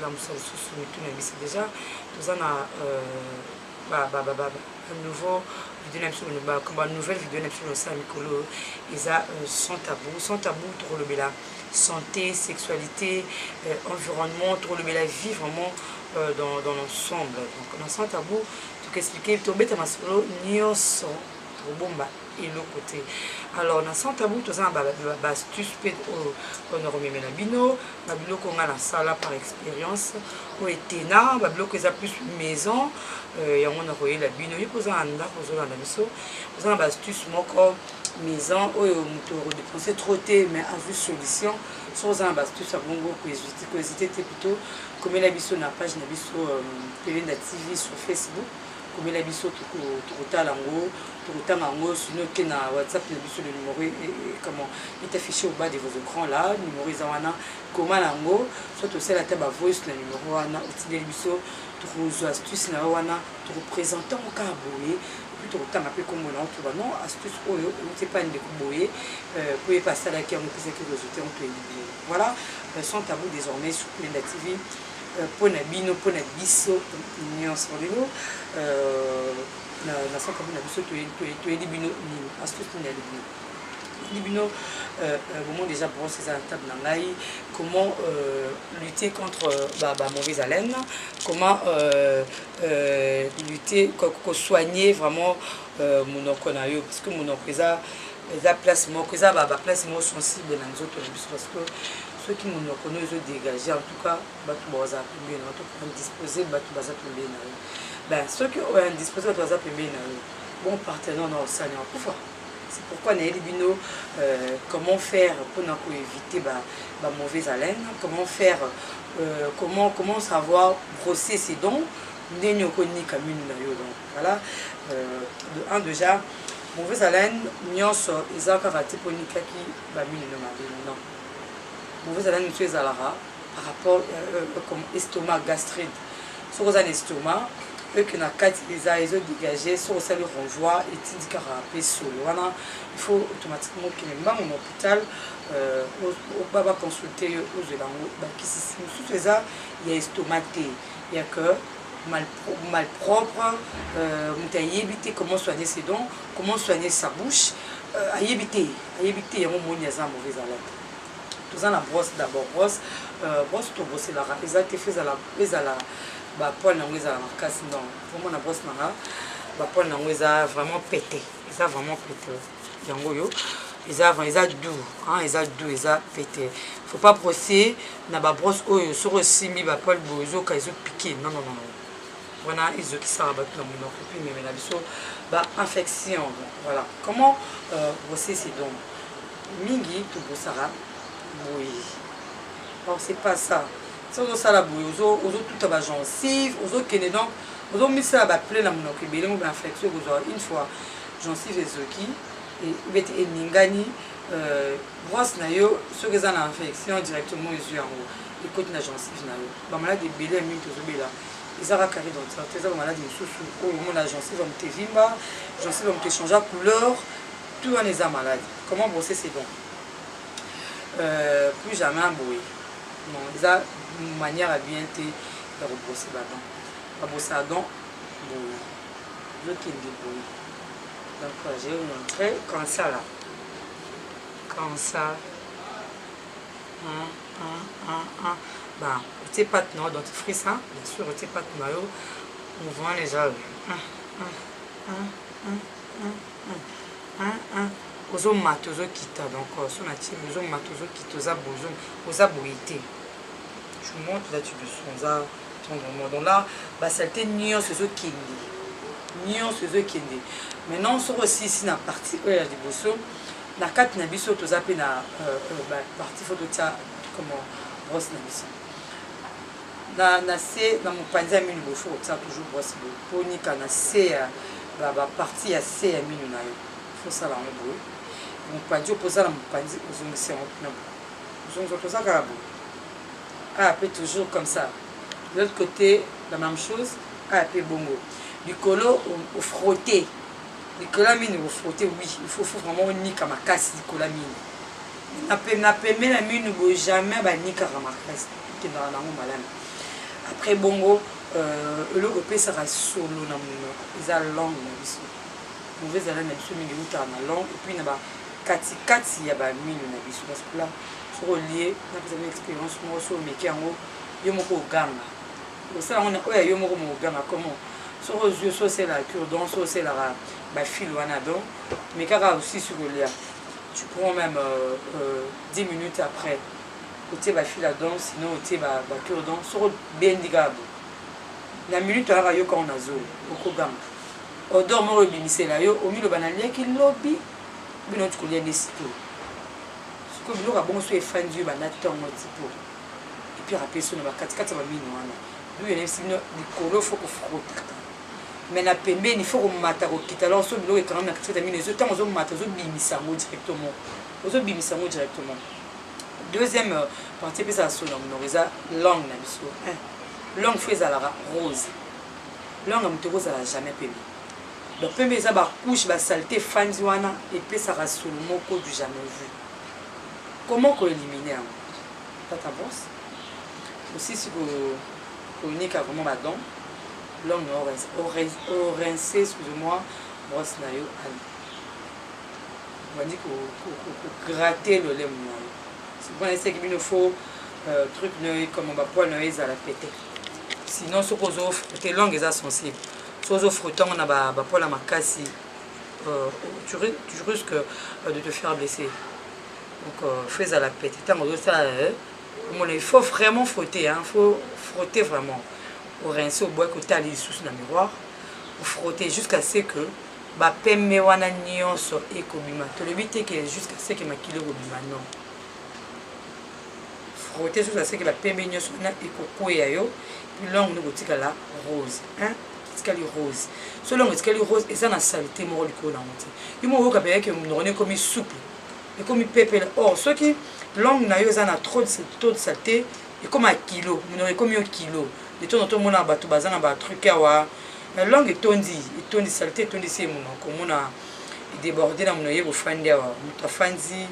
na mosala mosusu mitu na biso deja toza na nouveau video na biso banouvelle video na biso losala mikolo eza sans tabou sans tabou tokolobela santé sexualité environnement tokolobela vie vraiment dans, dans l'ensemble donc na sans tabou tokoexplike tobeta masolo nyonso tokobomba eloko te alors na sans tabou toza na bastuce mpe oyo mpona komemela bino babiloko nga nasala par expérience oyo etena babiloko eza plus maison euh, yango nakoyela bino yo mpoza na ndako ozolanda biso oza na bastuce moko maison oyo moto okodepense trop te mais azwi solution soki oza na bastuce ya bongo koezite te plutôt komela biso na page na biso euh, pelenda tv sur facebook komela biso tokotala ngo tokotanga ngo sino te na whatsapp na biso le numéro e, e, e, comment est affiché au bas de vos écrans là numéro eza wana koma na yango soit tosala ata ba voice na numéro wana otindeli biso tokozwa astuce na yo wana tokopresente ngo kaka boye epuis tokotanga mpe nkombo na yo toba non astuce oyo euti epai ndeko boye euh, mpo ye mpe asalaki yango epesaki résultat yango toyebi bien voilà euh, sans tabou désormais sur plenda tv mpo na bino mpo na biso nyonso lelo na santa mpo na biso toyeli bino nini astuce nini yali bino yali bino bomoi déjà brosse eza na table na ngai comment lutter contre ba mauvaise haleine comment lutter kosoigner vraiment monoko na yo parce que monoko eza eza place moko eza baplace moko sensible na nzoto na biso parce que soki monoko no ezo dégage en tout cas bato bazala pembeni na yo to indispose bato baza pembeni na yo ben soki oyo indispose bato baza pembeni na yo bon partenaire na osani akufa c'est pourquoi nayebi bino euh, comment faire mpona koéviter ba, ba mauvaise haleine comment faire euh, comment, comment savoir brosser ses dons ndenge okonika mino na yo donc voilà euh, de un déjà mauvaise haleine nyonso eza kaka te mpo onikaki bamino na mabe non mauvaise haleine mosusu ezalaka par rapport euh, euh, comme estomac gastride soki oza na estomac eke na kati eza ezo dégage soki osali renvoi etindikaka mpe solo wana il faut automatiquement okende mbango na hôpital euh, ba baconsulte yo ozwela yango bakisisi mosusu eza ya estomac te ya que malpropre moto ayebi te comment soigner ses dons comment soigner sa bouche ayebi te ayebi te yango moni aza mauvaise alerte toza na brosse d'abord brosse euh, brosse toboselaka eza te fo ezala ezala bapoile yango ezala makasi non omona brosse nanga bapoile yango eza vraiment pete eza vraiment pete yango oyo eza eza du hein, eza du eza pete faut pas brosser na babrosse oyo soki osimbi bapoile boye ezoka ezopike non non non wana ezokisaka bato na molimo akoki memela biso ba infection voilà comment euh, grossesse donc mingi tobosaka boye or c'est pas ça so ozosala boye ozotuta bagencive ozokende donc ozomisala baple na monoko ebele mo bainfection ekozwa une fois gencive ezoki ebeti eningani euh, brosse na yo soki eza na infection directement ezwi yango ekoti na gencive na yo bamaladi ebele ya mingi tozobela eza kaka carie dentaire te eza ba maladi mosusu oyo omona gencive ya moto evimba gencive ya moto echangea couleur tout wana eza maladi comment brosser c'est bon euh, plus jamais boye non eza manière ya bien te ya kobrose badon babrose ya don boye ezokende boye donc euh, je vous montre comme ça là comme ça hein? Ba otie pate na yo dentifrice hein? Bien sûr otie pate na yo mouvement na eza ozomata ozokita donc euh, so natie ozomata ozokita oza bozo oza boye te tu monte là tu descends oza tendrement donc là basalite nyonso ezokende nyonso ezokende maintenant soki osilisi na partie oyo ya liboso na kati na biso toza mpe na parti fo totya comment brosse na biso na, na se na mopanzi ya minu bofu kotia toujours brosse boye mpo nika na se ya baparti ya se ya minu na yo fosala yango boye mopanzi oyo mpoza na mopanzi ozongisi yango kuna boye ozongisa toza kaka boye aya mpe toujours comme ça de l'autre côté la même chose aya mpe bongo likolo ofrote Nicolas mine ko frotter oui il faut faut vraiment onika makasi Nicolas mine na pembe na pembe na mine bo jamais ba nikaka makasi kendaka nango malami après bongo euh, eloko epesaka solo na monoko eza langue na biso mauvaise haleine na biso mingi eutaka na langue epuis na bakatikati ya bamino na biso parce que la soki olie napesa bino expérience moko soki omeki yango yo moko oganga Osala ngo na oyo ya yo moko mo ganga comment soki ozwi osi osela cure dent osi oselaka ba fil wana donc mais kaka osisi kolia tu prends même euh, euh, 10 minutes après otie ba fil à dent sinon otie ba, ba cure dent soki obendi kaka bo na minute oyaka yo kaka na zolo okoganga odor moko ebimisela yo omiloba naliaki lobi bino tikolia nde sikoyo sikoyo biloko ya bongo so efandi yo banda ntongo tipo epire apeso na bakatikati ya bamino wana bible nayebisi bino likolo fo kofrotaka mai na pembeni fo komata kokita lor so biloko ekangami na katikati ya mino ezo ntango ozomata ozobimisa yango directement ozobimisa yango directement deuxième euh, partie epesaka solo ya monoko eza langue na biso langue fo ezalaka rose langue ya moto ekozala jamais pembe donc pembe eza bacouche basalite efandi wana epesaka solo moko du jamais vu Comment ko eliminer yango tata boss osilisi ko konika vraiment ba dents l'homme na o rince excuse moi brosse na yo ali obandi ko gratter lolemo na yo c'est bon eseki bino faut euh, truc na yo comme ba poil na yo ezala pete sinon soki ozo te langue eza sensible soki ozo frotter yango na ba poil ya makasi euh, tu, tu risques euh, de te faire blesser donc euh, faut ezala pete ntango ozosala euh, omona il faut vraiment frotter hein, faut frotter vraiment orince obwaki otala lisusu na miroir ofrotter jusqu'à ce que bapembe wana nyonso ekobima tolobi te ke jusqu'à ce que makili ekobima non frotter jusqu'à ce que bapembe nyonso wana ekokweya yo longue nde kotikala rose hein? etikali rose so longo etikali rose eza na salite moko likolo nango te yo moko oyoka mpenza ke monoko na ekomi souple ekomi pepele or soki longue na yo eza na trop de salite ekoma kilo monoko ekomi yo kilo de temps en temps omona bato baza na batruc awa na longue etondi etondi salite etondisi ye monoko omona déborde na mono ye bofandi awa moto afandi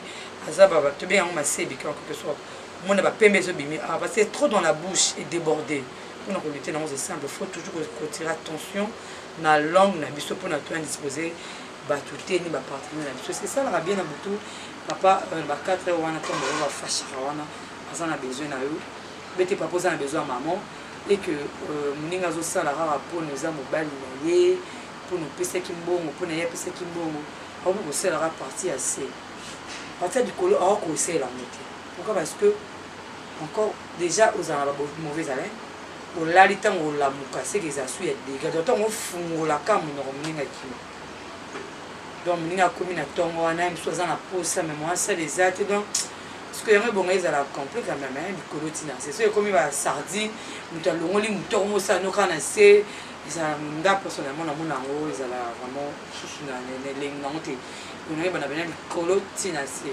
aza baba tobenga yango masebi quelque sorte omona bapembe ezobimi awa parce que trop dans la bouche edéborde mpona kolute nango c'est simple faut toujours kotire attention na langue na biso mpona to indispose bato te ni bapartenaire na biso esalaka bien na butu papa euh, ba 4 heure wana ntango oyo bafashaka wana aza na besoin na yo bete papa oza na besoin ya maman e que euh, moninga azosala kaka mpona eza mobali na ye mpona opesaki mbongo mpona ye apesaki mbongo akoki kosalaka parti ya se parti ya likolo akoki kosala yango te pourquoi parce que encore dejà ozala na ba mauvais haleine olali ntango olamuka seke eza su ya dega donc ntango ofungolaka monoko moninga kino donc moninga akomi na ntongo wana ye mosusu aza na posa me moya sale eza te donc soki yango ebonga ezala complet quand même hein, likolo ntina se soki ekomi ba sardine moto alongoli motoko mosala noka na se ezala nga personnellement namona yango ezala vraiment susu na elengi nango te onaye bana bena likolo ntina se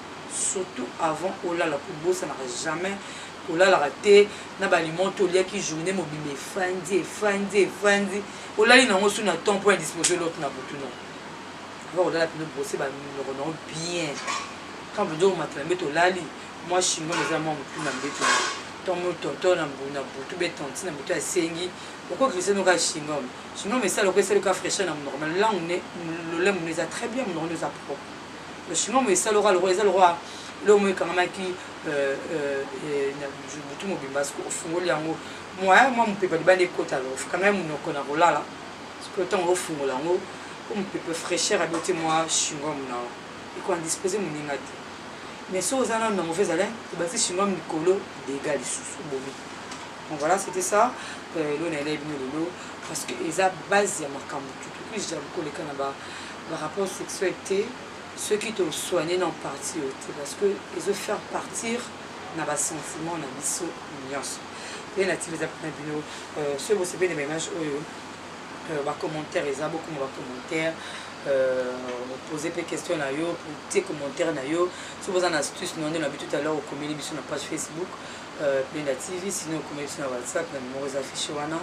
Surtout avant olala kobosanaka jamais kolalaka te na ba aliments to liaki journee mobimba efandi efandi efandi olali na ngo su na temps point disposer l'autre na butu non avant olala pino brosser ba minoko na bien quand vous dire matela mbeto olali moi shingo eza moi mutu na mbeto to mo tonton na mbu na butu be tantine na butu asengi okoki no ka shingom shingom esala okesali ka fraîcheur na munoko mais langue ne lolemo eza très bien munoko eza propre Le chinois mo esala oka lokola eza lokola eloko mo ekangamaki euh, euh, euh, na butu mobimba soki ofungoli yango moya mwa mopepa libanda ekota lo okangai monoko na kolala soki ntango ofungola yango po mopepe fraîcheur abeti mwa chingom na yo ekoindispose moninga te mais soki oza nano na mauvaise alain obakisi chingom likolo dega lisusu obomi bon voilà c'était ça elona elai bino lelo parce que eza base ya makambo tutukuija koleka na ba ba rapport sexuel te soki to soigner na partie oyo te parce que ezo faire partir na ba sentiments na biso nyonso mpe na tika eza mpona bino euh, soki bosepeli na ba image oyo euh, ba commentaire eza bokoma ba commentaire Euh, pose mpe question na yo tie commentaire na yo soki boza na astuce na nde na bi tout à l'heure okomeli biso na page facebook Euh, Penda TV, sinon comme sur WhatsApp, na numéro des affiches wana.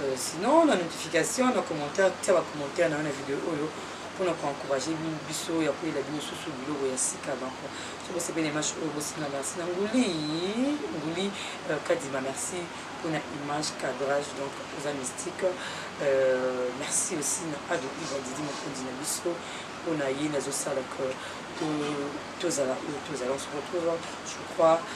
Euh, sinon, la notification, la commentaire, tu as commentaire dans la vidéo oyo pour nous encourager biso ya koyela bino susu biloko ya sika banko soki osepeli image oyo bosinga merci na nguli nguli euh, kadima merci pour na image cadrage donc oza mystique euh, merci aussi na ado iva didi mokonzi na biso mpo na ye nazosala que tozala oyo tozala on se retrouve je crois